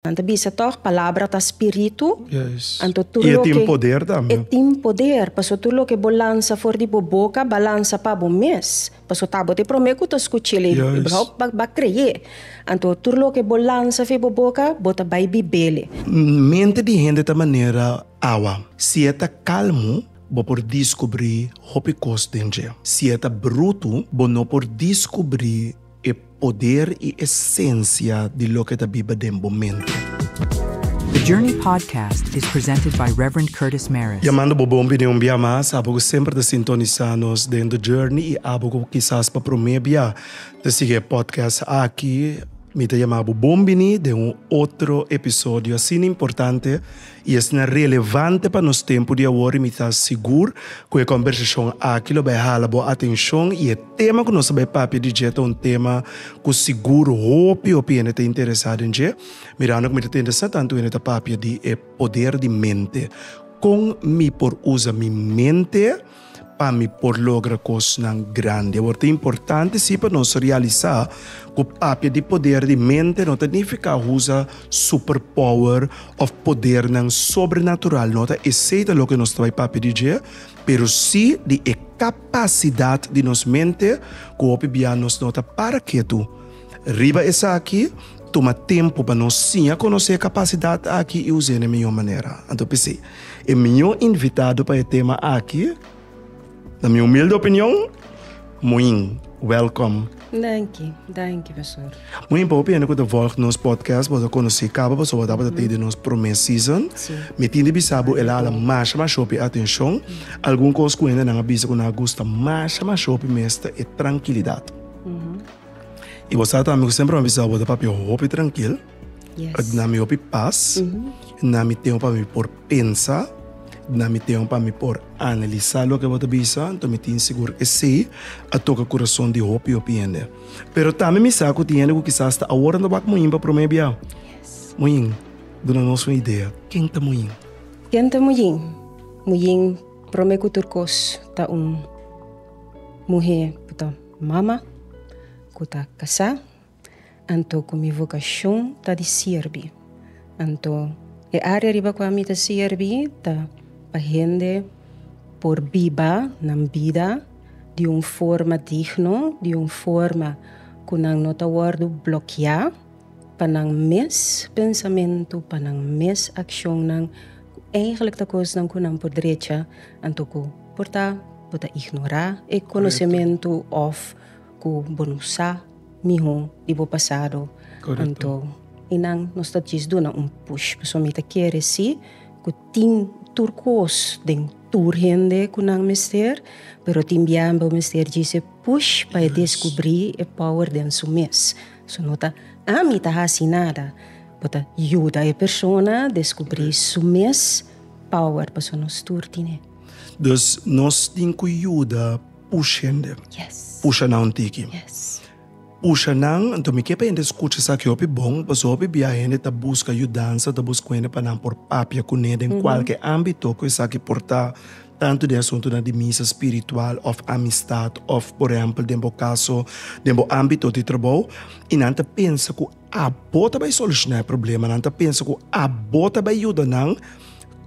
Nan ta bisa toch, palabra ta spiritu. Yes. Anto tur loke. E tin poder tambe. E tin poder, paso tur loke bo lansa for di bo boka, ba lansa pa bo mes. Paso ta bo te prome ku ta skuchel e, yes. brou ba, ba kreye. Anto tur loke bo lansa fe bo boka, bo ta bai bibele. Mente di hende ta manera awa. Si e ta kalmu, bo por diskubri hopi kos den dje. Si e ta brutu, bo no por diskubri. E poder i esensia di loke ta biba den bo mente. The Journey Podcast is presented by Rev. Curtis Mares. Jamando bo bon bini un bia mas. Abo ku semper ta sintonisa nos den The Journey i abo ku kisas pa prome bia ta sigui e podcast aki, mi ta jama bo bon bini den un otro episodio. Asina importante i esnan relevante pa nos tempu di awor i mi ta sigur ku e kòmbersashon aki lo bai hala bo atenshon i e tema ku nos a bai papia di dje ta un tema ku sigur hopi hopi hende ta interesá den dje mirando ku mi ta tende sa tantu hende ta papia di e poder di mente kon mi por usa mi mente pa mi por logra kosnan grandi. Awor, ta importante sí pa nos realisá ku papia di poder di mente no ta nifiká usa superpower òf podernan sobrenatural. No ta esei ta loke nos ta bai papia di dje, pero sí di e kapasidat di nos mente ku hopi bia nos no ta para ketu. Riba esaki, tuma tempu pa nos siña konosé e kapasidat aki i us'é na e mihó manera. Anto p'esei, e mihó invitado pa e tema aki, na mi humilde opinion, Moin. Wèlkòm! Danki, danki Pastor. Moin, pa hopi hende ku ta vòlg nos podcast, bo ta konosé kaba paso bo tabata tei di nos promé season. Mi tin di bisa bo el a hala masha masha hopi atenshon. Algun kos ku hendenan a bisa ku nan a gusta masha masha hopi mes ta e trankilidat. Y bo sa ta mi cu siempre mi a bisa bo ta papia hopi trankil. Yes. Na mi hopi pas. Mm -hmm. Na mi tempo pa mi por pensa. Na mi tempo pa mi por analisa lo que bo ta bisa. Entonces mi tin sigur esey a toca corazon di hopi hopi hende. Pero tambe mi sa cu tin hende cu kisas ta awor ta wak Moin pa prome bia. Yes. Moin, duna nos un idea. Ken ta Moin? Ken ta Moin? Moin prome cu tur cos ta un muhe. Mama, ku ta kasá, anto ku mi vokashon ta di sirbi. Anto e área riba ku ami ta sirbi ta pa hende por biba nan bida di un forma digno, di un forma ku nan no ta wòrdu blokiá. pa nan mes pensamentu, pa nan mes akshonnan, ku eigentlik ta kosnan ku nan por drecha, anto ku por ta bo ta ignorá e konosementu òf ku bo no sa mihó di bo pasado. Anto i nan nos ta djis duna un push. Pasobra mi ta kere sí ku tin tur kos den tur hende ku nan mester, pero tin biaha bo mester djis e push pa e deskubrí e power den su mes. So no ta ami ta hasi nada. Bo ta yuda e persona descubri su mes power paso nos tur tin e. Dus nos tin cu yuda push hende. Yes. Pusha nan un tiki. Yes. Pusha nan, enton mi kier pa hende scucha esaki hopi bon, paso hopi bia hende ta busca yudansa, ta busca hende pa nan por papia cune den cualkier ambito cu esaki por ta. tantu den asuntunan di misa spiritual òf amistat òf por ehèmpel den bo kaso, den bo ámbito di trabou, i nan ta pensa ku abo ta bai solushoná e problema, nan ta pensa ku abo ta bai yuda nan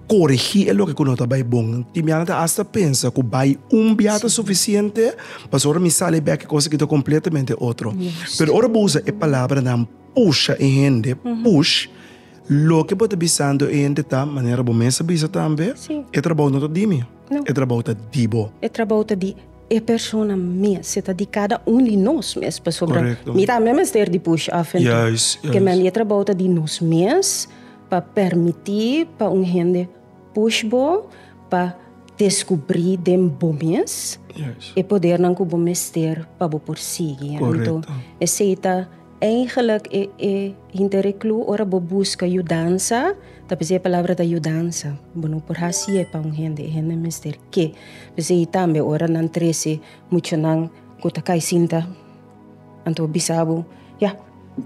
koregí e loke ku no ta bai bon. Tin bia nan ta asta pensa ku bai un bia ta sufisiente, pasobra ora mi sali bèk e kos aki ta kompletamente otro. Pero ora bo usa e palabranan pusha e hende, push. Loke bo ta bisando e hende ta, manera bo mes a bisa tambe, Sí. e trabou no ta di mi, No. e trabou ta di bo. E trabou ta di e persona mes, e ta di kada un di nos mes, pasobra Correcto. mi tambe mester di push af en tur. Juist, juist. Kemey mi e trabou ta di nos mes pa permití pa un hende push bo pa descubrí den bo mes Juist. e podernan cu bo mester pa bo por sigui. Correcto. Anto esei ta Eigenlik e e hinter e klu ora bo buska yudansa ta p'esei e palabra ta yudansa. Bo no por hasi e pa un hende, e hende mester ke. P'esei tambe ora nan trese muchanan ku ta kai sinta, anto bo bisa bo, ya,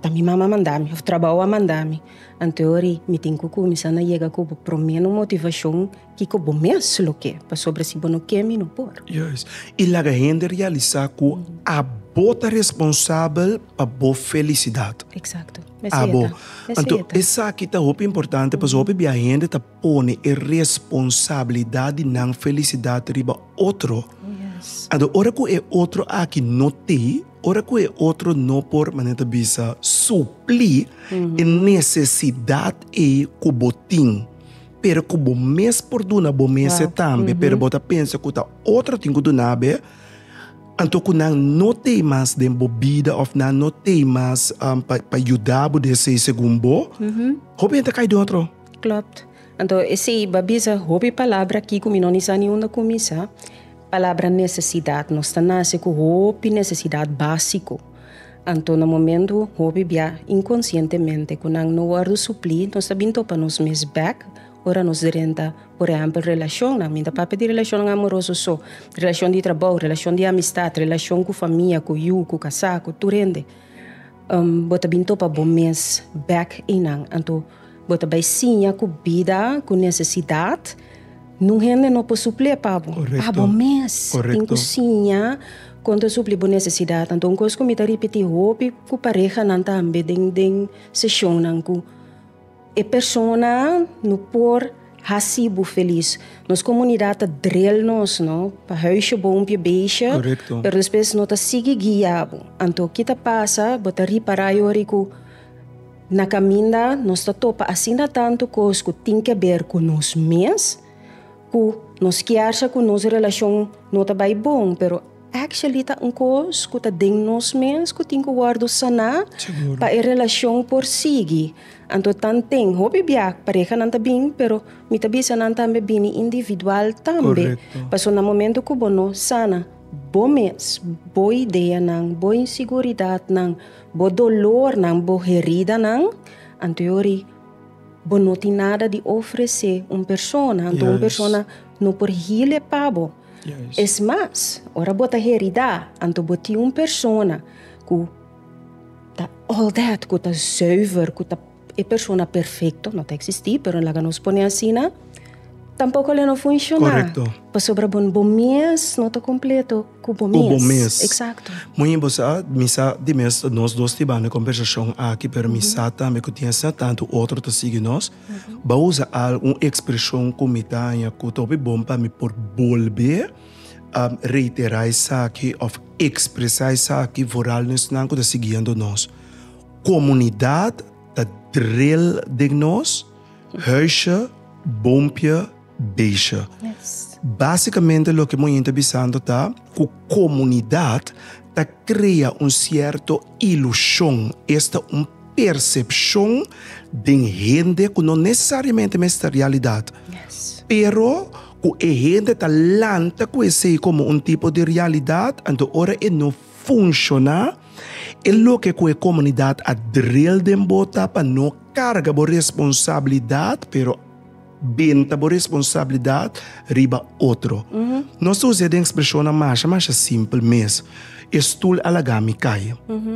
ta mi mama a manda mi òf trabou a manda mi. Anto ori mi tin ku kuminsá na yega ku bo promé motivashon. Kiko bo mes lo ke, pasobra si bo no ke mi no por. Juis. I laga hende realisá ku abo ta responsabel pa bo felisidat. Eksakto. Mesei e ta. Mesei e ta. Anto esaki ta hopi importante pasobra hopi bia hende ta pone e responsabilidat di nan felisidat riba otro. Anto ora ku e otro aki no tin, ora ku e otro no por manera ta bisa suplí e nesesidat ei ku bo tin. Pero ku bo mes por duna bo mes e tambe, pero bo ta pensa ku ta otro tin ku duna be, anto ku nan no te mas den bo bida òf nan no te mas pa pa yuda bo di esei segun bo, hopi hende ta kai den otro. Klopt. Anto esei bo a bisa hopi palabra aki ku mi no ni sa ni unda kuminsá. Palabra nesesidat. Nos ta nase ku hopi nesesidat básiko. Anto na momentu hopi bia inkonsientemente ku nan no wòrdu suplí, nos ta bin topa nos mes bèk ora nos drenta. Por ehèmpel, relashonnan. Mi ta papia di relashonnan amoroso so, relashon di trabou, relashon di amistat, relashon ku famia, ku yu, ku kasá, ku tur hende. Bo ta bin topa bo mes bèk einan. Anto. Bo ta bai siña ku bida ku nesesidat nun hende no por suplí pa bo. Abo mes tin ku siña kon ta suplí bo nesesidat. Anto un kos ku mi ta ripití hopi ku parehanan tambe den seshonnan ku e persona no por hasi bo felis. Nos komunidat ta dril nos no pa hèusje bo un pia beshi pero despues no ta sigui guia bo. Anto ki ta pasa bo ta ripará yori ku. Na kaminda nos ta topa asina tantu kos ku tin ke ber ku nos mes, ku nos kièrsa ku nos relashon no ta bai bon, pero actually ta un kos ku ta den nos mes ku tin ku wòrdu saná pa e relashon por sigui. Anto tan den hopi bia parehanan ta bin, pero mi ta bisa nan tambe bini individual tambe, pasobra na momentu ku bo no sana bo mes, bo ideanan, bo inseguridatnan, Bo dolornan, bo heridanan, anto yo ri bo no tin nada di ofresé un persona, anto un persona no por hile pa bo. Es mas, ora bo ta heridá, anto bo tin un persona ku ta all that, ku ta zùiver, ku ta. E persona perfecto no ta existi, pero laga nos pone asina, tampoco lo no funciona. Correcto. Pasobra bo, bo mes no ta completo cu bo mes. Cu bo mes. Exacto. Muy bien, bo sa, mi sa di mes nos dos tin banda conversacion aki, pero mi sa tambe cu tin asina tanto otro ta sigui nos, bo a usa algo, un expresion cu mi ta haña cu ta hopi bon pa mi por bolbe a reitera esaki of expresa esaki foral nesnan cu ta siguiendo nos. Komunidat ta dril den nos huisje, boompje, beestje. Básikamente loke Moin ta bisando ta ku komunidat ta krea un sierto ilushon, esta un persepshon den hende ku no nesesariamente mester realidat, pero ku e hende ta lanta ku esei komo un tipo di realidat, anto ora e no. funshoná, e loke ku e komunidat a dril den bo ta pa no karga bo responsabilidat, pero benta bo responsabilidat riba otro. Nos ta usa den ekspreshonnan masha masha simpel mes, E stul a laga mi kai.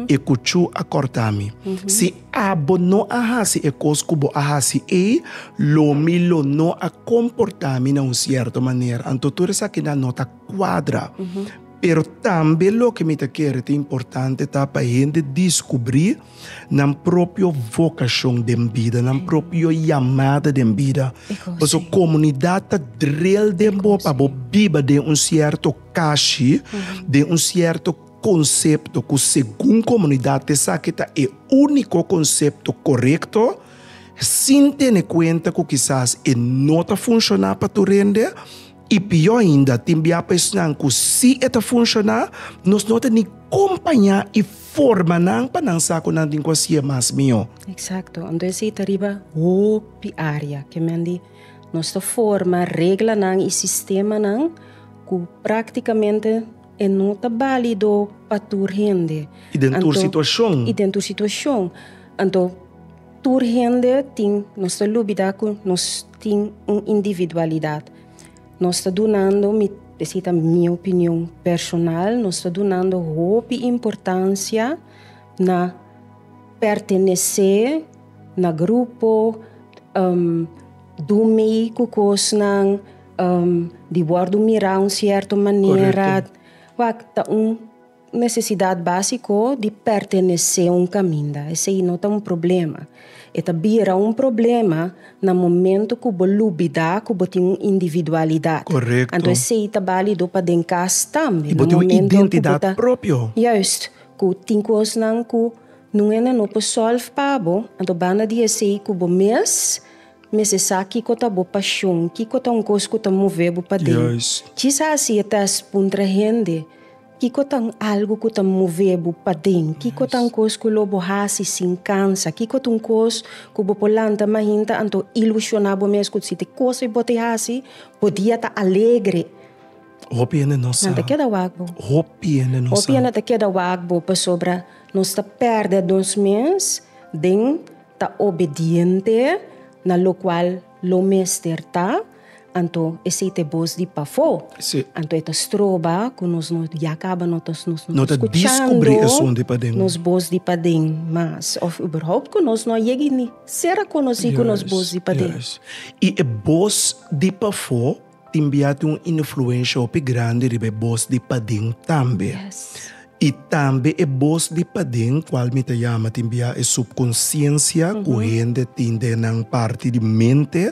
E kuchú a kòrtá mi. Si abo no a hasi e kos ku bo a hasi ei, lo mi lo no a komportá mi na un sierto manera. Anto tur esakinan no ta kuadra. Pero tambe loke mi ta kere ta importante ta pa e hende diskubrí nan propio vokashon den bida, nan propio yamada den bida. Paso komunidat ta drel den bo pa bo biba den un sierto kashi, den un sierto konsepto ku segun komunidat esaki ta e úniko konsepto korekto, sin tene kuenta ku kisas e no ta funshoná pa tur hende. I pió ainda, tin biá pa esnan ku si e ta funshoná, nos no ta ni kompañá i forma nan pa nan sa ku nan tin ku hasié mas mihó. Eksakto. Entonces e ta riba hopi área. Ke men di nos ta forma reglanan i sistemanan ku práktikamente e no ta bálido pa tur hende. I den tur situashon. I den tur situashon. Anto. Tur hende tin, nos ta lubida ku nos tin un individualidat. Nos ta dunando, mi p'esei ta mi opinion personal, nos ta dunando hopi importansia na pertenesé na grupo, dun mei ku kosnan, di wòrdu mirá un sierto manera. Korekto. Wak ta un. Nesesidat básiko di pertenesé un kaminda esei no ta un problema. E ta bira un problema na momentu ku bo lubidá ku bo tin un individualidat. Korekto. Anto esei ta bálido pa den kas tambe. I bo tin un identidat propio. Juist. Ku tin kosnan ku nungennan no por sòlv pa bo, anto banda di esei ku bo mes mester sa kiko ta bo pashon, kiko ta un kos ku ta move bo paden. Juist. Kisas si e tèst puntra hende. Kiko ta un algu ku ta move bo paden? Kiko ta un kos ku lo bo hasi sin kansa? Kiko ta un kos ku bo por lanta mainta anto ilushoná bo mes ku si te kos ei bo ta hasi, bo dia ta alegre? Hopi hende no sa. Nan ta keda wak bo. Hopi hende no sa. Hopi hende ta keda wak bo pasobra nos ta pèrdè nos mes den ta obediente na lokual. Lo mester ta, anto esei ta e bos di pafó. Sí. Anto e ta stroba ku nos no ya kaba no ta nos no ta skuchando nos bos di paden mas òf uberhoupt ku nos no a yega ini ser a konosí ku nos bos di paden. I e bos di pafó. Tin biaha tin un influensha hopi grandi riba e bos di paden tambe. I tambe e bos di paden, kual mi ta yama tin biaha e supkonsiensia ku hende tin den nan parti di mente,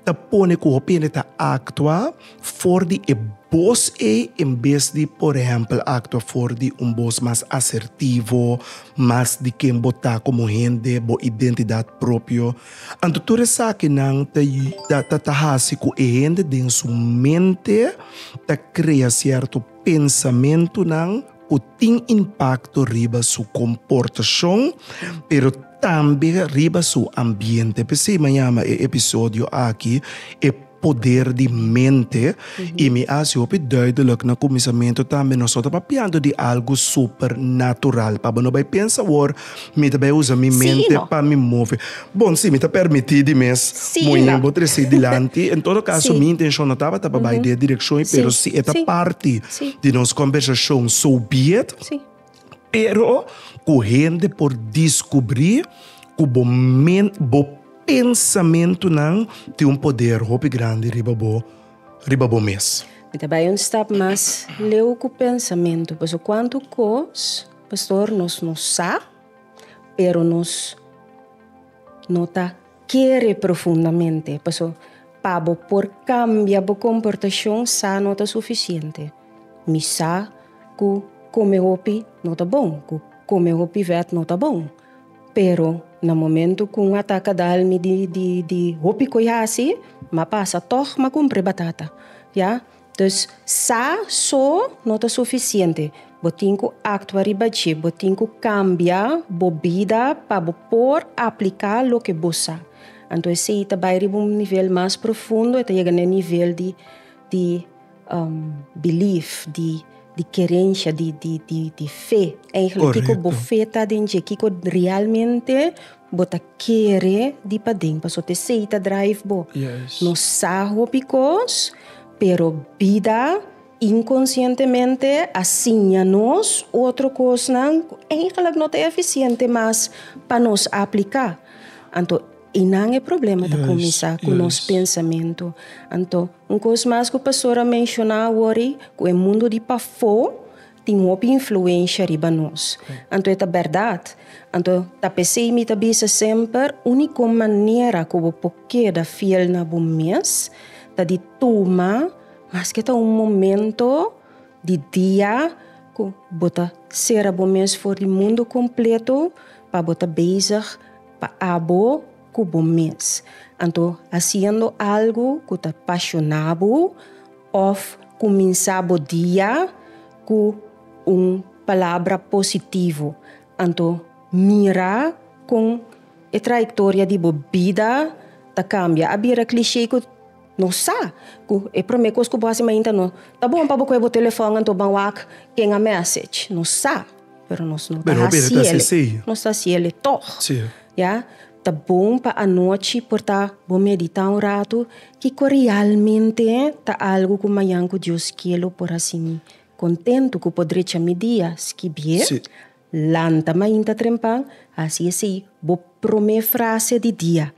ta pone ku hopi hende ta aktua for di e bos ei en bes di por ehèmpel aktua for di un bos mas asertivo, mas di ken bo ta komo hende, bo identidat propio. Anto tur esakinan ta hasi ku e hende den su mente ta krea sierto pensamentunan ku tin impakto riba su komportashon, pero tambe riba su ambiente. P'esei mañana e episodio aki e. poder di mente y mi a hasi hopi duidelijk na cuminsamentu tambe nos no ta papiando di algo super natural pa bo no bay pensa awor mi ta bay usa mi mente pa mi move bon si mi ta permiti di mes moe bo tresi dilanti en todo caso mi intencion no tabata pa bay den e direccion y pero si e ta parti di nos conversacion so be it. Pero ku hende por diskubrí ku bo men bo pensamentunan tin un poder hopi grandi riba bo riba bo mes. Mi ta bai un stap mas leu ku pensamentu, paso kuantu kos, pastor, nos no sa, pero nos no ta kere profundamente, paso pa bo por kambia bo komportashon sa no ta sufisiente. Mi sa cu come hopi no ta bon, cu come hopi vet no ta bon. Pero na momento cu un ataca dal mi di hopi co i haci, m'a pasa toch m'a cumpri batata. Ya? Dus sa so no ta suficiente. Bo tin cu actua riba dje. Bo tin cu cambia bo bida pa bo por aplica loke bo sa. Anto esey ta bay riba un nivel mas profundo, e ta yega na e nivel di. belief, di kerensha, di fe. Eigelik kiko bo fe ta den dje, kiko realmente bo ta kere di paden pasobra esei ta drive bo. No sa hopi kos pero bida inkonsientemente a siña nos otro kosnan ku eigelik no ta efisiente mas pa nos apliká. Anto. I nan e problema ta kuminsá ku nos pensamentu. Anto, un kos mas ku pastor a menshoná awor ei, ku e mundu di pafó tin hopi influensha riba nos. Anto e ta bèrdat. Anto, ta p'esei mi ta bisa semper, úniko manera ku bo por keda fiel na bo mes ta di tuma maske ta un momentu di dia ku bo ta sera bo mes for di mundu kompletu pa bo ta bezig Pa abo ku bo mes. Anto hasiendo algu ku ta apashona bo òf kuminsá bo dia ku un palabra positivo. Anto mira kon e trayektoria di bo bida ta kambia. A bira klishé ku. Nos sa ku e promé kos ku bo hasi mainta no ta bon pa bo kue bo telefòn anto ban wak ken a mèsech. Nos sa, pero nos no ta hasiele. Nos ta hasiele tòg. Ya, ta bon pa anochi por ta bo meditá un ratu kiko realmente ta algu ku mañan ku Dios ke lo por hasi mi kontentu, ku por drecha mi dia. Skibie, lanta mainta trempan, hasi esei bo promé frase di dia.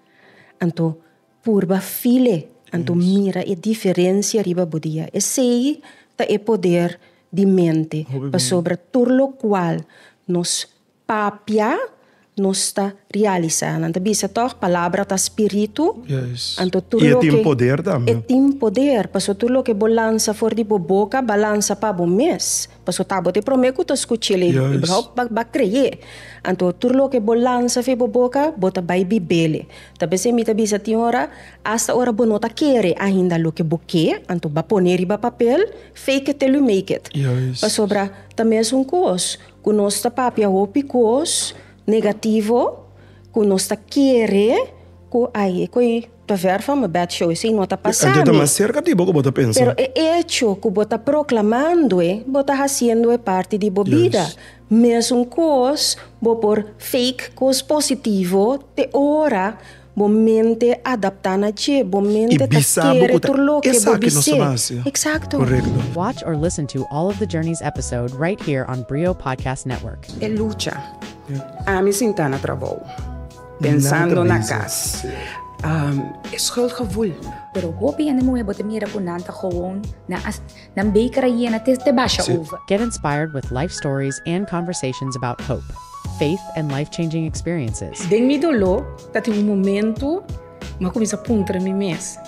Anto. Purba file, anto mira e diferensia riba bo dia. Esei ta e poder di mente, pasobra tur lokual nos papia nos ta realisá. Nan ta bisa tòg, palabra ta spiritu, anto tur loke. E tin poder tambe. E tin poder, pasobra tur loke bo lansa for di bo boka, bo a lansa pa bo mes. Paso ta bo te prome ku ta skuchel i bou ba kreye. Anto tur loke bo lansa fe bo boka bo ta bai bibel. Ta besé mi ta bisa tin ora asta ora bo no ta kere ainda loke bo ke, anto ba pone riba papel, fake it till you make it. Pasobra ta mesun kos ku nos ta papia hopi kos negativo ku nos ta kere ku ai ko i. Pa ver van bo bed show esey no ta pasa mi. Anto e ta mas cerca di bo cu bo ta pensa. Pero e hecho cu bo ta proclamandoe bo ta haciendoe parti di bo bida. Mesun cos bo por fake cos positivo te ora bo mente adapta na dje, bo mente ta kere tur loke bo bis'é. Exacto. Watch or listen to all of the Journeys episode right here on Brio Podcast Network. E lucha. Ami sinta na trabou. Pensando na cas. E schuldgevoel. Pero hopi hende muhe bo te mira cu nan ta gewoon, nan a nan beker a yena te te basha over. Get inspired with life stories and conversations about hope, faith and life-changing experiences. Den mi dolo ta tin un momento ma cuminsa puntra mi mes,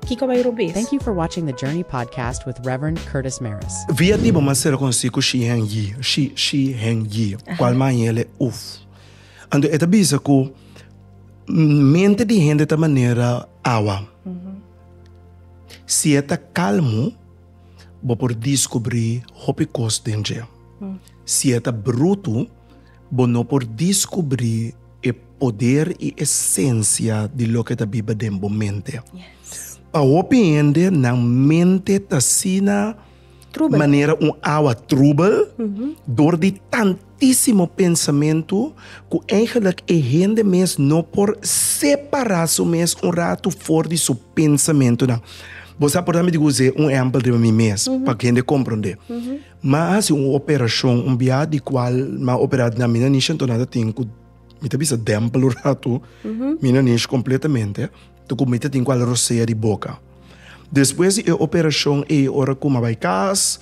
Kico bay robes? Thank you for watching the Journey Podcast with Rev. Curtis Maris. Via di bo ma sera conoci cu Shi Heng Yi, Shi, Shi Heng Yi, cual man y el e uf. Anto e ta bisa ku mente di hende ta manera awa. Si e ta kalmu, bo por diskubrí hopi kos den dje. Si e ta brutu, bo no por diskubrí e poder i esensia di loke ta biba den bo mente. Pa hopi hende, nan mente ta asina. Trubel. Manera un awa trubel dor di tantísimo pensamentu ku eigelik e hende mes no por separá su mes un ratu for di su pensamentunan. Bo sa por dame di kuzé un ehèmpel riba mi mes pa hende komprondé? M'a hasi un operashon un bia di kual m'a operá na mi na nish anto nan ta tin ku mi ta bisa dèmpel un ratu mi na nish kompletamente. Ta cu mi ta tin cu al rosea di boca. Despues di e operacion ey ora cu mi a bay cas,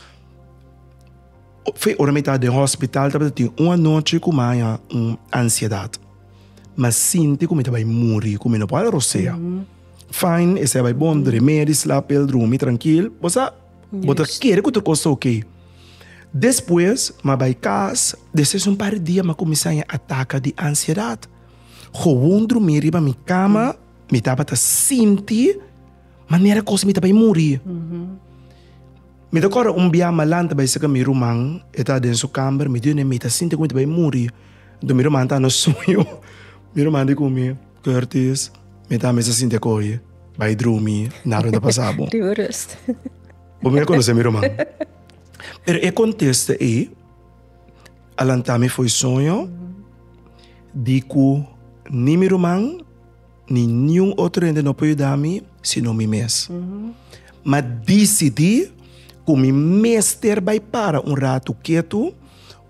fe ora mi ta den hospital tabata tin un anochi cu mi a haya un ansiedad. Mi a sinti cu mi ta bay muri, cu mi no por a rosea. Fine, esey a bay bon, dremé di slap el, drumi trankil, bo sa, bo ta kere cu tur cos ta ok. Despues mi a bay cas, despues di un par di dia mi a cuminsa haya ataca di ansiedad. Gewoon drumí riba mi kama, mi tabata sinti manera kos mi ta bai muri. Mi ta kòrda un bia mi a lanta bai saka mi ruman, e ta den su kamber, mi dune, mi ta sinti ku mi ta bai muri. Nto mi ruman ta na suño, mi ruman di ku mi, Curtis, mi ta mester sinti e koe, bai drumi, nada no ta pasa bo. Riba rust. Bo mi a konosé mi ruman. Pero e kontesta ei. a lanta mi fo'i soño di ku ni mi ruman ni niun otro hende no por yuda mi sino mi mes. M'a disidí ku mi mester bai para un ratu ketu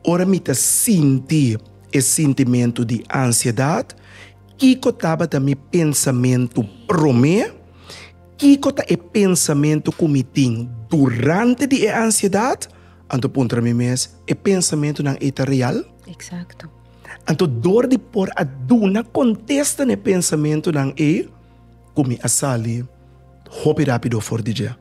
ora mi ta sinti e sintimentu di ansiedat, kiko tabata mi pensamentu promé, kiko ta e pensamentu ku mi tin durante di e ansiedat. Anto puntra mi mes, e pensamentunan ei ta real? Eksakto. Anto dor di por a duna kontesta na e pensamentunan ei ku mi a sali hopi rápido for di dje?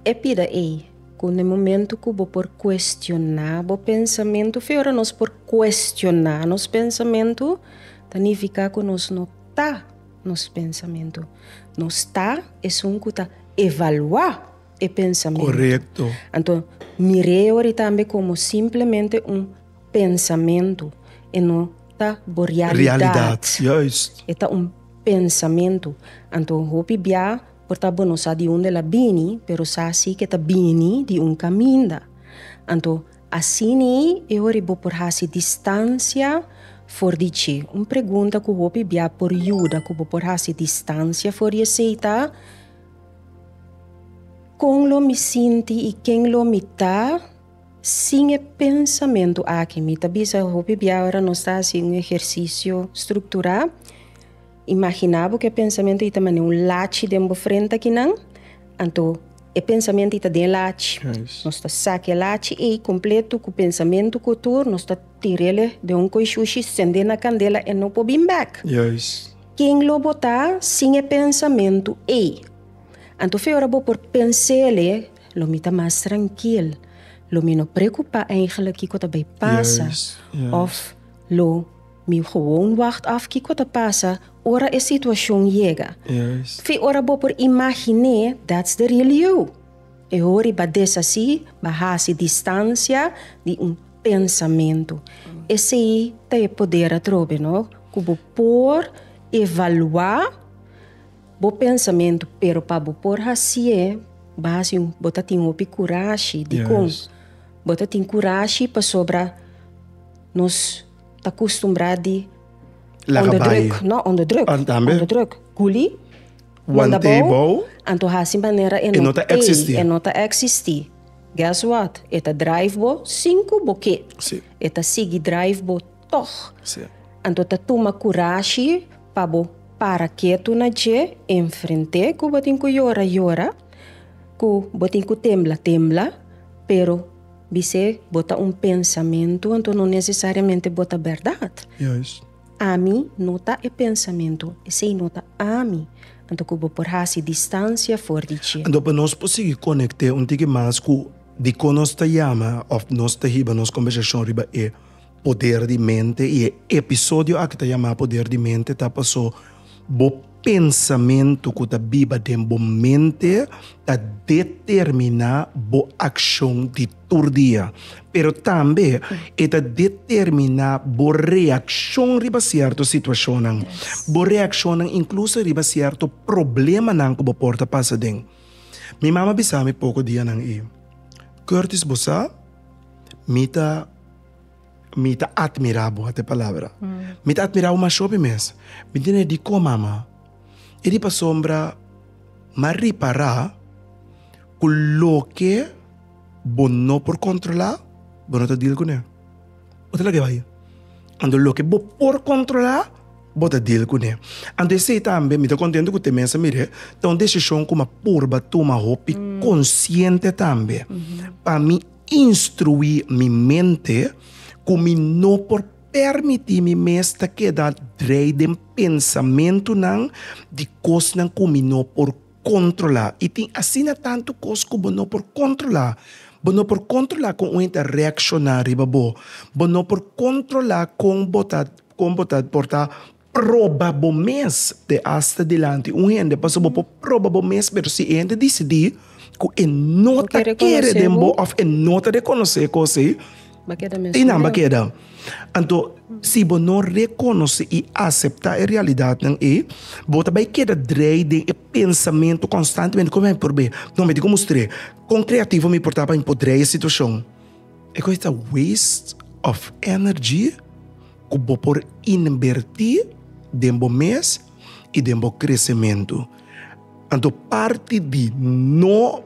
E pida ei ku na e momentu ku bo por kuestioná bo pensamentu, fe ora nos por kuestioná nos pensamentu ta nifiká ku nos no ta nos pensamentu. Nos ta esun ku ta evaluá e pensamentu. Korekto. Anto, mir'é ori tambe komo simplemente un pensamentu, e no ta bo realidat. Realidat, juist. E ta un pensamentu. Anto, hopi bia por ta bo no sa di unda el a bini, pero sa sí ku e ta bini di un kaminda. Anto, asina e ora bo por hasi distansia for di dje. Un pregunta ku hopi bia por yuda ku bo por hasi distansia for di e seita. Kon lo mi sinti i ken lo mi ta? Sin e pensamentu aki mi ta bisa hopi bia ora nos ta hasi un ehersisio strukturá. Imaginá bo ku e pensamentu i ta mane un lachi den bo frente akinan. Anto e pensamentu i ta den e lachi. Nos ta saka e lachi ei kompletu ku pensamentu ku tur, nos ta tir'e den un koishoushi, send'e na kandela, e no por bin bèk. Ken lo botá sin e pensamentu ei? Anto fe ora bo por pens'el e, lo mi ta mas trankil, lo mi no preokupá eigentlik kiko ta bai pasa òf lo mi gewoon wagt af kiko ta pasa ora e situashon yega. Fe ora bo por imagin'é, dats de riel you. E hora i ba des así, ba hasi distansia di un pensamentu. Esei ta e poder atrobe no, ku bo por evaluá bo pensamentu, pero pa bo por hasié, ba hasi un, bo ta tin hopi kurashi. Dikon? Bo ta tin kurashi pasobra nos ta kustumbrá di. Laga bai. Onderdruk, no, onderdruk. Tambe. Onderdruk. Kuli? want'é bou, anto hasi manera e no ta eksistí. E no ta eksistí. Guess what? E ta drive bo sin ku bo ke. Sí. E ta sigui drive bo tòg. Sí. Anto ta tuma kurashi pa bo para ketu na dje, enfrent'é ku bo tin ku yora yora, ku bo tin ku tembla tembla, pero bis'é bo ta un pensamentu, anto no nesesariamente bo ta bèrdat. Juist. Ami no ta e pensamentu, esei no ta ami, anto ku bo por hasi distansia for di dje. Anto pa nos por sigui konekt'é un tiki mas ku dikon nos ta yama òf nos ta hiba nos kombersashon riba e poder di mente i e episodio aki ta yamá poder di mente ta pasó. Bo pensamentu ku ta biba den bo mente ta determiná bo akshon di tur dia. Pero tambe e ta determiná bo reakshon riba sierto situashonnan, bo reakshonnan inkluso riba sierto problemanan ku bo por ta pasa den. Mi mama a bisa mi poko dianan ei, Curtis, bo sa mi ta. Mi ta atmirá bo, ate palabra. Mi ta atmirá bo masho mi mes. Mi ntené dikó, mama? I di pasobra mi a ripará ku loke bo no por kontrolá, bo no ta dil kuné. Bo ta lag'é bai. Anto loke bo por kontrolá, bo ta dil kuné. Anto esei tambe mi ta kontentu ku te mes a mir'é ta un desishon ku mi a purba tuma hopi konsiente tambe pa mi Instruí mi mente ku mi no por pèrmití mi mes ta keda drei den pensamentunan di kosnan ku mi no por kontrolá. I tin asina tantu kos ku bo no por kontrolá. Bo no por kontrolá kon un hende ta reakshoná riba bo. Bo no por kontrolá kon bo ta, kon bo ta por ta proba bo mes te asta dilanti un hende pasobra bo por proba bo mes pero si e hende disidí ku e no ta kere den bo òf e no ta rekonosé kos ei ei nan ba keda anto si bo no rekonosé i aseptá e realidatnan ei bo ta bai keda drai den e pensamentu konstantemente kon mi a bin por bai no mi tin ku mustr'é kon kreativo mi por ta pa mi por drai e situashon e kos ei ta waste òf ènèrgi. Ku bo por inbertí den bo mes i den bo kresementu. Anto parti di no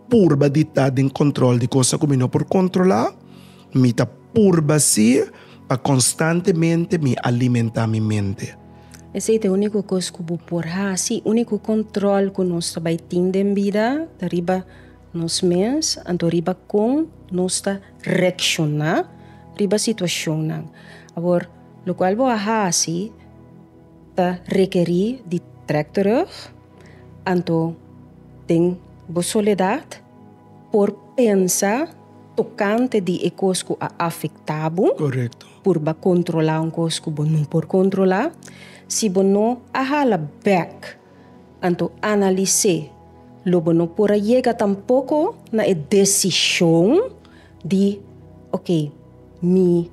purba di ta den kòntròl di kos ku mi no por kontrolá, mi ta purba sí pa konstantemente mi alimentá mi mente. Esei ta e úniko kos ku bo por hasi. Úniko kòntròl ku nos ta bai tin den bida ta riba nos mes, anto riba kon nos ta. rekshoná riba situashonnan. Awor, lokual bo a hasi ta rekerí di trèk terug, anto den bo soledat por pensa tokante di e kos ku a afektá bo. Korekto. Purba kontrolá un kos ku bo no por kontrolá. Si bo no a hala bèk. Anto analis'é lo bo no por a yega tampoko na e desishon di ok mi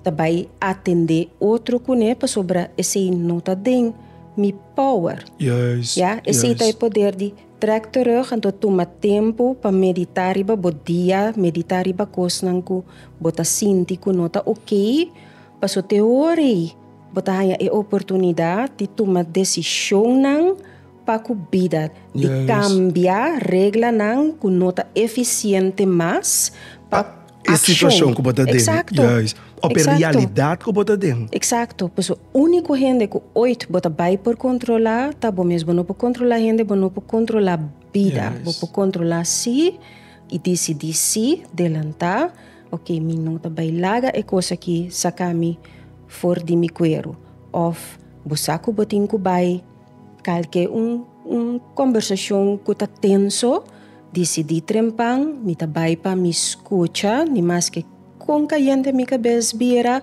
ta bai atendé otro kuné pasobra esei no ta den mi power. Ya, esei ta e poder di trèk terug anto tuma tempu pa meditá riba bo dia, meditá riba kosnan ku bo ta sinti ku no ta oke paso te ora ei. Bo ta haña e oportunidat di tuma desishonnan pa ku bida, di kambia reglanan ku no ta efisiente mas pa e situashon ku bo ta den. Eksakto. Òf e realidat ku bo ta den. Eksakto. Por eso úniko hende ku oit bo ta bai por kontrolá ta bo mes. Bo no por kontrolá hende, bo no por kontrolá bida. Bo por kontrolá sí i disidí sí delantá Ok, mi no ta bai laga e cos aki saca mi for di mi cuero. Of bo sa cu bo tin cu bai cal ke un un conversacion cu ta tenso, dicidi trempan, mi ta bai pa mi scucha, ni mas ke con cayente mi cabes bira,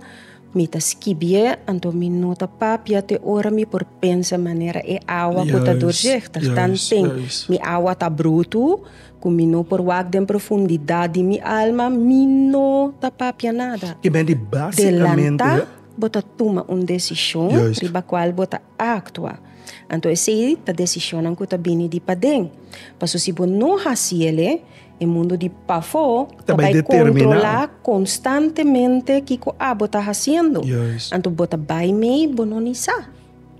mi ta skibi'e, anto mi no ta papia te ora mi por pensa manera e awa cu ta doorzichtig, tan ten mi awa ta brutu. Cu mi no por wak den profundidad di mi alma, mi no ta papia nada. E bai di basicamente. Delanta bo ta tuma un decision riba cual bo ta actua. Anto esey ta decisionnan cu ta bini di paden. Paso si bo no haci el'e, e mundo di pafo ta bai controla constantemente kico abo ta haciendo. Anto bo ta bai mey bo no ni sa.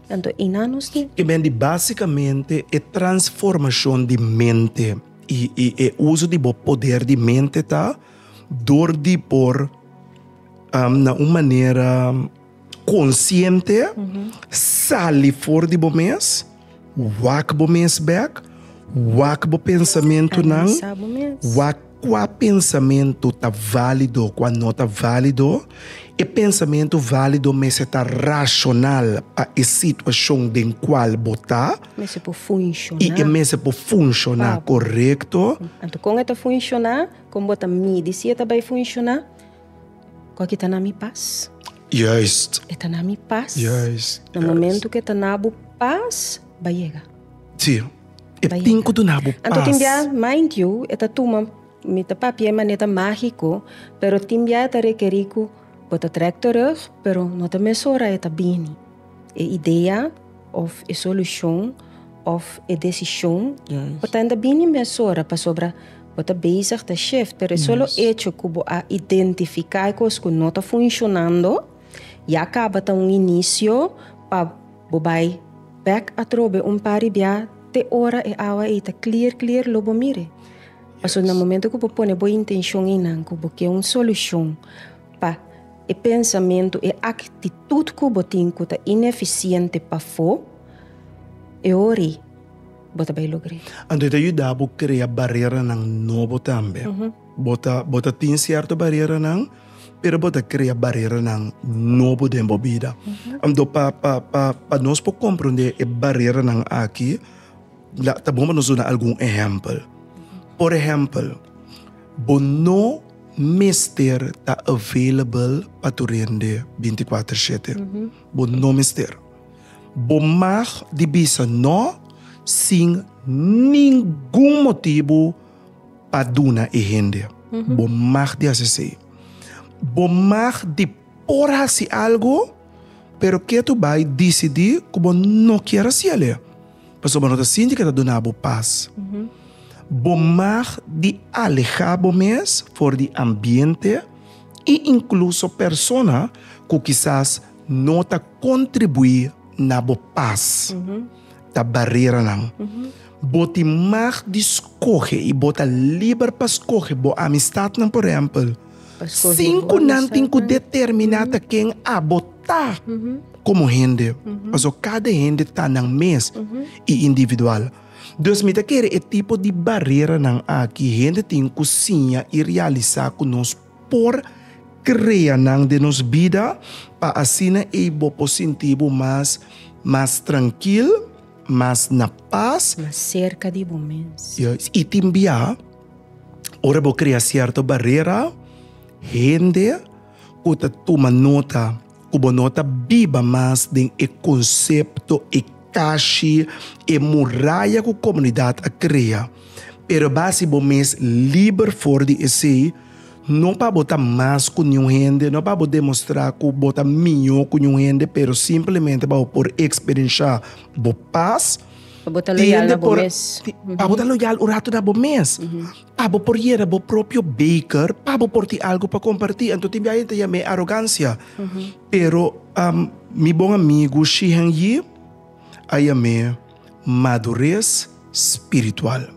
Tanto Iná nos tin. E men di básikamente e transformashon di mente i i e uso di bo poder di mente ta dor di por na un manera konsiente sali for di bo mes, wak bo mes bèk, wak bo pensamentunan, wak. Kua pensamentu ta válido, kua no ta válido? E pensamentu válido mester ta rashonal pa e situashon den kual bo ta. Mester por funshoná. I e mester por funshoná korekto. Anto kon e ta funshoná? Kon bo ta midi si e ta bai funshoná? Kua ki ta na mi pas? Juist. E ta na mi pas. Juist. Na momentu ku e ta na bo pas, bai yega. Sí, e tin ku duna bo pas. Anto tin bia, mind you, e ta tuma, mi ta papia e maneta mágiko, pero tin bia e ta rekerí ku bo ta trèk terug, pero no ta mesora e ta bini. E idea òf e solushon òf e desishon bo ta inda bini mesora pasobra bo ta bezig ta shift, pero e solo echo ku bo a identifiká e kos ku no ta funshonando ya kaba ta un inisio pa. Bo bai bek atrobe un par di bia te ora e awa ei ta clear clear lo bo mire. Pasobra na momento cu bo pone bo intencion einan cu bo ke un solucion pa e pensamento, e actitud cu bo tin cu ta ineficiente pafo, e ora ei bo ta bai logr'e. Anto e ta yuda bo crea bareranan nobo tambe. Bo ta tin cierto bareranan. pero bo ta krea bareranan nobo den bo bida. Anto pa, pa, pa, pa nos por comprende e bareranan aki, la, ta bon pa nos duna algun ehempel. Por ehempel, bo no mester ta available pa tur hende binti kuater shete. Bo no mester. Bo mag di bisa no sin ningun motibu. pa duna e hende. Bo mag di hasi esei. Bo mag di por hasi algu, pero ke tur bai disidí ku bo no kier hasi alí, pasobra bo no ta sinti ku e ta duna bo pas. Bo mag di alehá bo mes for di ambiente i inkluso persona ku kisas no ta kontribuí na bo pas, ta bareranan. Bo tin mag di skohe i bo ta liber pa skohe bo amistatnan. Por ehèmpel, sin ku nan tin ku determiná ta ken abo ta komo hende, pasobra kada hende ta nan mes i individual. Dus mi ta kere e tipo di bareranan aki hende tin ku siña i realisá ku nos por krea nan den nos bida pa asina ei bo por sinti bo mas mas trankil. mas na pas. Mas serka di bo mens. Juist. I tin bia, ora bo krea sierto barera, hende ku ta tuma nota ku bo no ta biba mas den e konsepto, e kashi, e muraya ku komunidat a krea, pero basi bo mes liber for di esei. No pa bo ta mas ku niun hende, no pa bo demostrá ku bo ta mihó ku niun hende, pero simplemente pa bo por eksperenshá bo pas. Pa bo ta loyal na bo mes. Pa bo ta loyal un ratu na bo mes. Pa bo por yera bo propio beker, pa bo por tin algu pa kompartí. Anto tin biaha e ta yam'é arogansia. Pero mi bon amigu Shihan Yi a yam'é. Madures spiritual.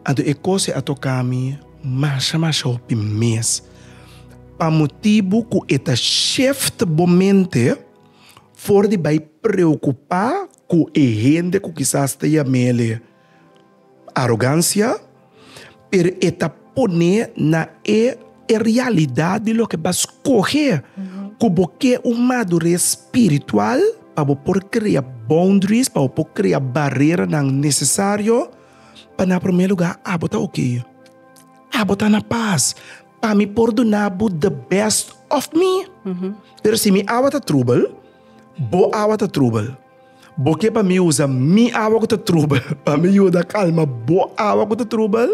Anto e kos'e a toká mi masha masha hopi mes. Pa motibu ku e ta shift bo mente for di bai preokupá ku e hende ku kisas ta yam'el e. Arogancia, pero e ta pone na e e realidad di loke bo a scoge cu bo ke un madurez spiritual pa bo por crea boundaries, pa bo por crea bareranan necesario, pa na prome lugar abo ta ok, abo ta na paz, pa mi por duna bo the best of me, pero si mi awa ta trubel, bo awa ta trubel. Bo ke pa mi usa mi awa ku ta trubel pa mi yuda kalma bo awa ku ta trubel?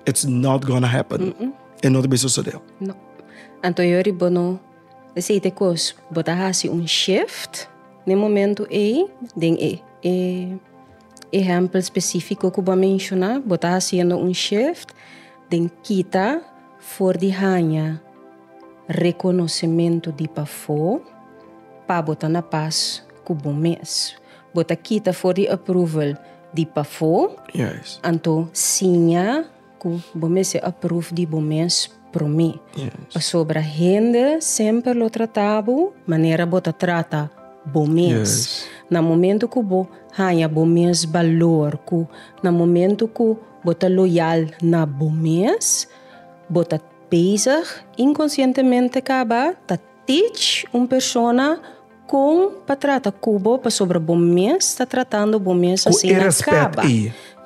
It's not gonna happen. E no ta bin sosodé. No. Anto yo ri bo no desei te kos bo ta hasi un shift na e momentu ei den e e ehèmpel spesífiko ku bo a menshoná, bo ta hasiendo un shift den kita. For di haña rekonosementu di pafó pa bo ta na pas ku bo mes, bo ta kita for di approval di pafó, Yes. anto siña ku bo mester approve di bo mes promé. Yes. Pasobra hende semper lo trata bo manera bo ta trata bo mes. Yes. Na momentu ku bo haña bo mes balor, ku na momentu ku Bo ta loyal na bo mes, bo ta bezig inkonsientemente kaba ta tich un persona kon pa trata ku bo pasobra bo mes ta tratando bo mes asina kaba.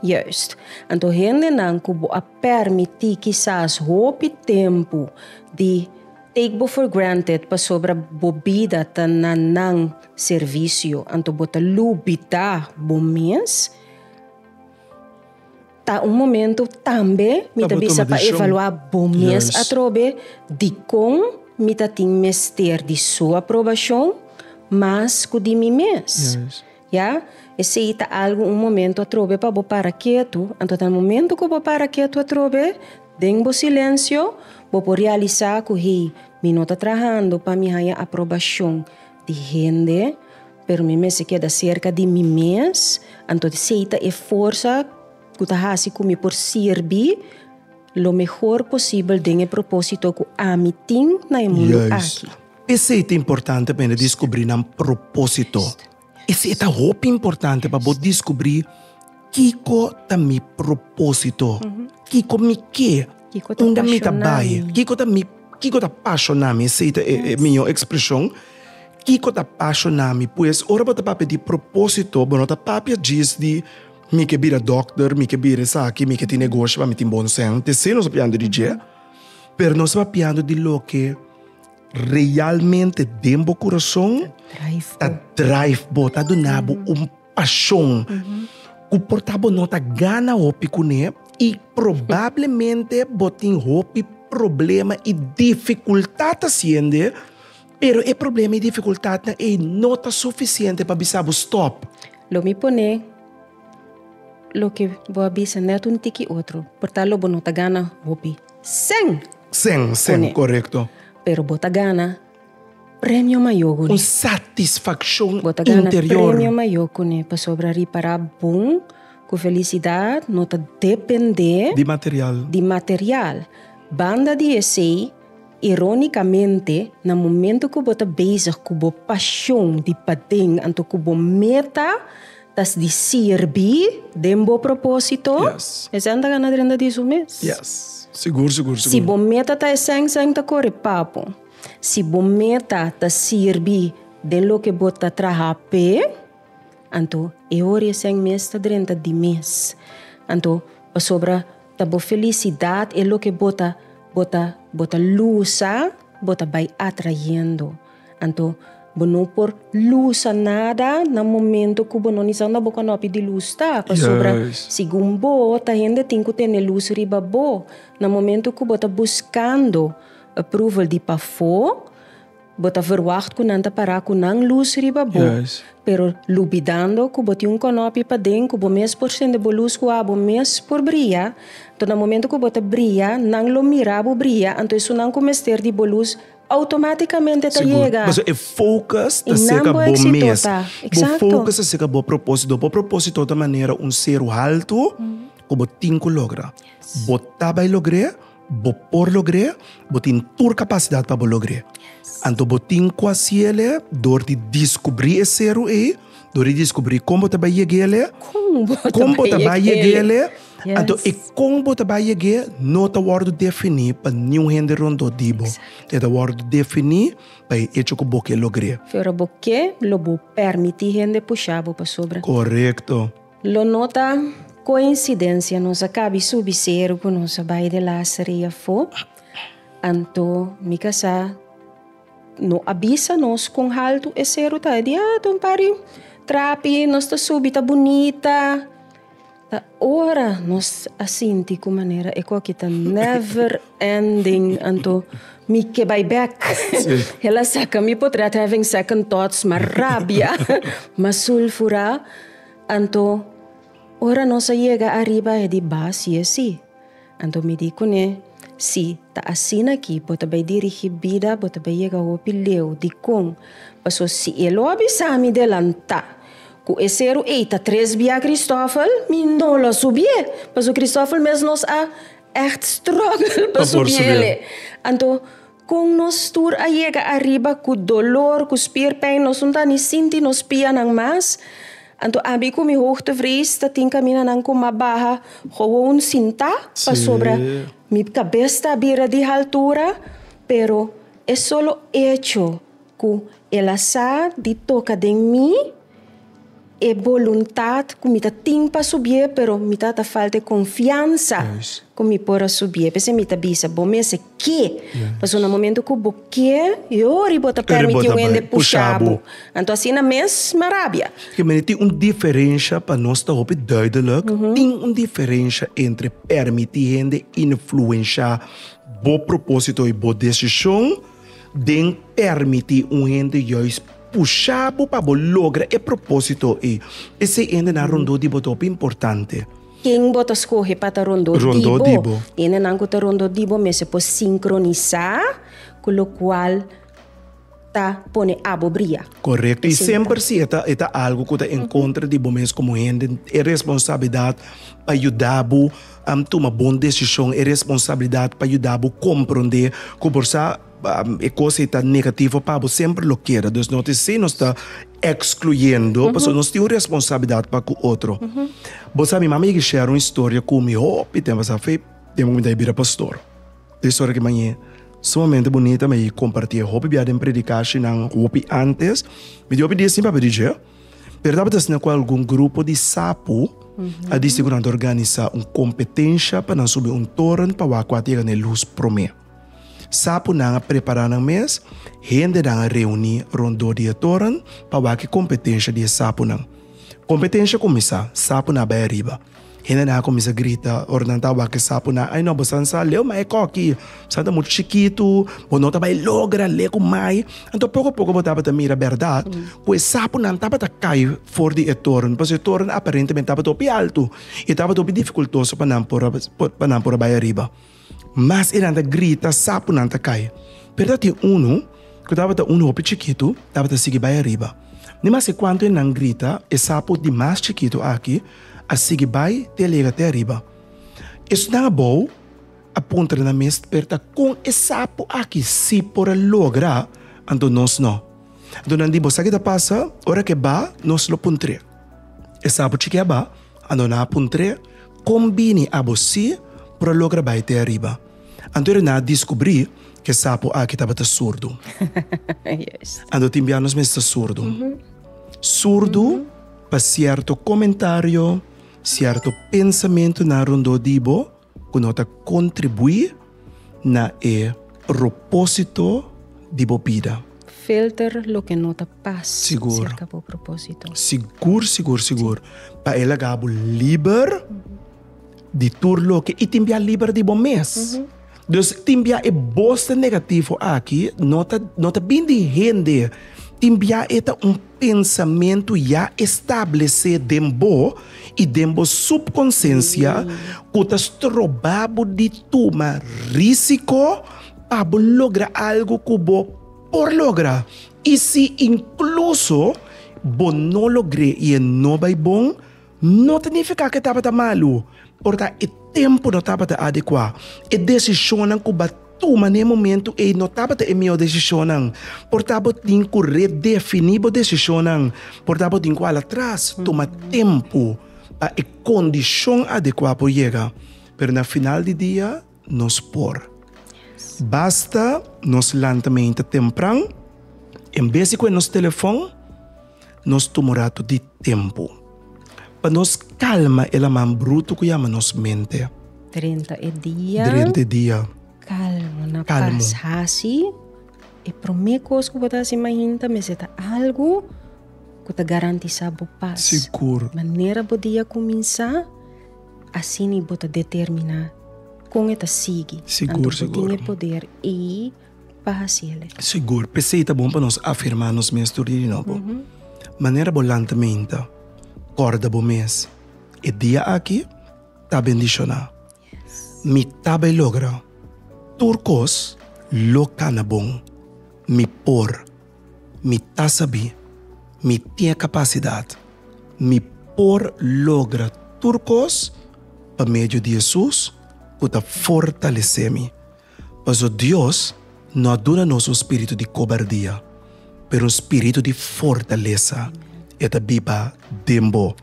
Juist. Anto hendenan ku bo a permití kisas hopi tempu di take bo for granted pasobra bo bida ta na nan servisio, anto bo ta lubida bo mes. Ta un momento tambe mi ta bisa pa evalua bo mes atrobe dikon mi ta tin mester di su aprobashon mas ku di mi mes. Ya, esei ta algu un momento atrobe pa bo para ketu. Anto na momento ku bo para ketu atrobe den bo silensio bo por realisá ku hey mi no ta trahando pa mi haña aprobashon di hende. Pero mi mester keda serka di mi mes, anto esei ta e forsa ku ta hasi ku mi por sirbi lo mehor posibel den e propósito ku ami tin na e mundu aki. Esei ta importante pa hende diskubrí nan propósito. Esei ta hopi importante pa bo diskubrí. Kiko ta mi propósito? Kiko mi ke? Unda mi ta bai? Kiko ta mi, kiko ta pashona mi? Esei ta e mihó ekspreshon. Kiko ta pashona mi? Pues, ora bo ta papia di propósito, bo no ta papia djis di, Mi ke bira dòkter, mi ke bira esaki, mi ke tin negoshi pa mi tin bon sèn. Te esei nos ta piando di dje, pero nos ta piando di loke realmente den bo kurason ta drive bo, ta duna bo un. Pashon ku por ta bo no ta gana hopi kuné i probablemente bo tin hopi problema i difikultat hasiende, pero e problema i difikultatnan ei no ta sufisiente pa bisa bo stòp. Lo mi pone loke bo a bisa nèt un tiki otro, por ta lo bo no ta gana hopi sen. Sen, sen, korekto. Pero bo ta gana. Premio mayo cu ne. Un satisfaccion interior. Bo ta gana premio mayo cu ne pasobra ripara bon cu felicidad no ta depende. Di material. Di material. Banda di esey, ironicamente na momento cu bo ta bezig cu bo pasion di paden anto cu bo meta. Tas di sirbi den bo propósito? Yes. Esèn ta gana drenta di su mes? Yes. Sigur, sigur, sigur. Si bo meta ta esèn, esèn ta kore papo. Si bo meta ta sirbi den loke bo ta traha p'e, anto e ora esèn mes ta drenta di mes. Anto, pasobra ta bo felisidat e loke bo ta bo ta bo ta lusa, bo ta bai atrayendo. Anto bo no por lusa nada na momento ku bo no nisiat na bo konopi di lus ta, pasobra segun bo ta hende tin ku tene lus riba bo. Na momento ku bo ta buskando approval di pafó, bo ta verwagt ku nan ta pará ku nan lus riba bo, pero lubidando ku bo tin un konopi paden ku bo mes por sende bo lus ku abo mes por bria. Anto na momento ku bo ta bria, nan lo mira bo bria, anto esun nan ku mester di bo lus. Automáticamente ta yega. Pasobra e focus ta cerca bo mes. Bo focus ta cerca bo propósito. Bo propósito ta manera un seru haltu cu bo tin cu logra. Bo ta bay logr'é, bo por logr'é, bo tin tur capacidad pa bo logr'é. Anto bo tin cu haci'é dor di descubri e seru ey. Dor i diskubrí kon bo ta bai yeg'é alé, kon bo ta bai yeg'é alé, anto e kon bo ta bai yeg'é no ta wòrdu definí pa niun hende rondó di bo. E ta wòrdu definí pa e echo ku bo ke logr'é. Fe ora bo ke, lo bo pèrmití hende pushá bo pasobra. Korekto. Lo no ta koinsidensia nos a kabi subi seru ku nos a bai di Laseria afó, anto mi ka sa. No a bisa nos kon haltu e seru ta. E di, ah, ta un pari trapi, nos ta subi, ta bunita. Ta ora nos a sinti ku manera e koki ta never ending, anto mi ke bai bek. El a saka mi por trèt having second thoughts, mas rabia, mas sulfura. Anto ora nos a yega ariba e di bas yesi. Anto mi di kuné, Sí, ta asina akí, bo ta bai dirigí bida, bo ta bai yega hopi leu. Dikon? Paso si e lo a bisa mi delantá ku e seru ei ta tres bia Kristòfel, mi no lo a subié, paso Kristòfel mes nos a ègt strògel pa subié lei. Anto. Kon nos tur a yega ariba ku dolor, ku spierpijn, nos no ta ni sinti nos pianan mas. Anto ami ku mi hoogtevrees ta tin kaminanan ku mas baha, gewoon sintá, pasobra mi kabes ta bira di haltura. Pero e solo echo ku el a sa di toka den mi, e boluntat ku mi ta tin pa subié, pero mi ta ta falta e konfiansa ku mi por a subié. P'esei mi ta bisa bo mes e ke. Pasobra na momento ku bo ke, yori bo ta permití un hende pusha bo. Anto asina mes mi rabia. Ke manera tin un diferensha pa nos ta hopi duidelik. Tin un diferensha entre permití hende influenshá bo propósito i bo desishon. Den permití un hende juis pushá bo pa bo logra e propósito ei. Esei hendenan rondó di bo ta hopi importante. Ken bo ta skohe pa ta rondó di bo? Hendenan ku ta rondó di bo mester por sinkronisá ku lokual ta pone abo bria. Korekto, i semper si e ta algu ku ta en kontra di bo mes komo hende, e responsabilidat pa yuda bo. Am tuma bon desishon, e responsabilidat pa yuda bo komprondé ku por sa e kos ei ta negativo pa bo semper lo keda. Dus no ta esei nos ta ekskluyendo, pasobra nos tin un responsabilidat pa ku otro. Bo sa mi mama yega share un historia ku mi hopi tempu pasá fe den mi kumintat di bira pastor. E historia ki mane sumamente bunita mi a kompartí hopi biaha den predikashinan hopi antes. Mi tin hopi dies sin papia di dje. Pero tabata asina ku algun grupo di sapu a disi ku nan ta organisa un kompetensha pa nan subi un toren pa wak kua ta yega na e lus promé. Sapunan a prepará nan mes, hendenan a reuní rondó di e toren pa wak e kompetensha di e sapunan. Kompetensha kuminsá, sapunan a bai ariba. Hendenan a kuminsá grita ora nan ta wak e sapunan, Ai no, bo san sa leu mai koki, bo san ta muchu chikitu, bo no ta bai logra leu ku mai. Anto poko poko bo tabata mira bèrdat ku e sapunan tabata kai for di e toren, pasobra e toren aparentemente tabata hopi altu i tabata hopi difikultoso pa nan por a bai ariba. Mas eran ta grita, sapunan ta kai. Pero ta tin unu, ku tabata unu hopi chikitu, tabata sigui bai ariba. Ni maske kuantu enan grita, e sapu di mas chikitu aki a sigui bai te a llega te ariba. Esunnan abou a puntra nan mes perta, Kon e sapu aki si por a logra, anto nos no? Anto nan di, Bo sa ki ta pasa? Ora ke ba, nos lo puntr'é. E sapu chikí a ba. A no na puntr'é, Kon bini abo sí por a logra bai te ariba? Anto e na diskubrí ku e sapo aki tabata surdu. Anto tin bia nos mester surdu? Surdu pa sierto komentario, sierto pensamentunan rondó di bo? Ku no ta kontribuí na e propósito di bo bida. Filter loke no ta pas serka bo propósito. Sigur, sigur, sigur, pa e laga bo liber di tur loke i tin bia liber di bo mes. Dus tin bia e boster negativo aki no ta no ta bini di hende, tin bia e ta un. Pensamentu ya establesé den bo i den bo supkonsensia ku ta stroba bo di tuma rísiko pa bo logra algu ku bo por logra. I si inkluso bo no logr'é i e no bai bon, No ta nifiká ku e tabata malu, pero ta e tempu no tabata adekuá. E desishonnan ku bo a tuma na e momentu ei no tabata e mihó desishonnan. Portá bo tin ku redefiní bo desishonnan. Portá bo tin ku hala tras tuma tempu pa e kondishon adekuá por yega. Pero na final di dia. nos por. Basta nos lantamente tempran, en bes di cu e nos telefon, nos tuma un ratu di tempo pa nos calma e laman bruto cu yama nos mente. Drenta e dia. Drenta e dia. Calmo na pas haci e prome cos cu bo ta haci main ta mester ta algo cu ta garantisa bo pas. Sigur. Manera bo dia cuminsa. Asini bo ta determiná kon e ta sigui. Anto bo tin e poder i pa hasi el. Sigur. P'esei ta bon pa nos afirmá nos mes tur dia di nobo. Manera bo lanta menta, kòrda bo mes, E dia aki ta bendishoná. Mi ta bai logra tur kos loke ta na bon. Mi por. Mi ta sabí, mi tin e kapasidat, mi por logra tur kos pa medio di Hesus ku ta fortalesé mi. Paso, Dios no a duna nos un spiritu di kobardia, pero un spiritu di fortalesa. E ta biba den bo.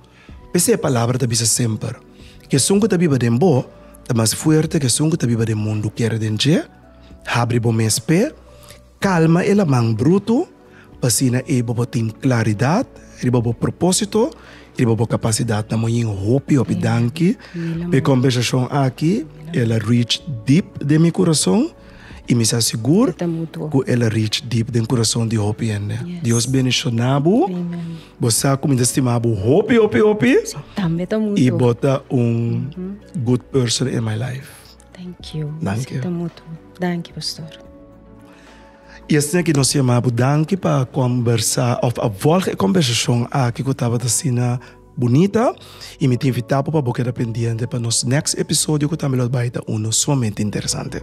P'esei e palabra ta bisa semper, Ku esun ku ta biba den bo ta mas fuerte ku esun ku ta biba den mundu. Kere den dje, habri bo mes pe. Kalma e laman brutu, p'asina e bobo tin klaridat riba bo propósito i riba bo kapasidat. Na Moin hopi hopi danki p'e kombersashon aki, el a reach deep den mi kurason i mi sa sigur ku el a reach deep den kurason di hopi hende. Dios bendishoná bo, bo sa ku mi ta stima bo hopi hopi hopi i bo ta un good person in my life. Danki yo. Danki yo. mutu. Danki pastor. Y esnan aki nos yama bo danki pa combersa of a volg e combersacion aki cu tabata asina bunita y mi ta invita bo pa bo keda pendiente pa nos next episodio cu tambe lo a bai ta uno sumamente interesante.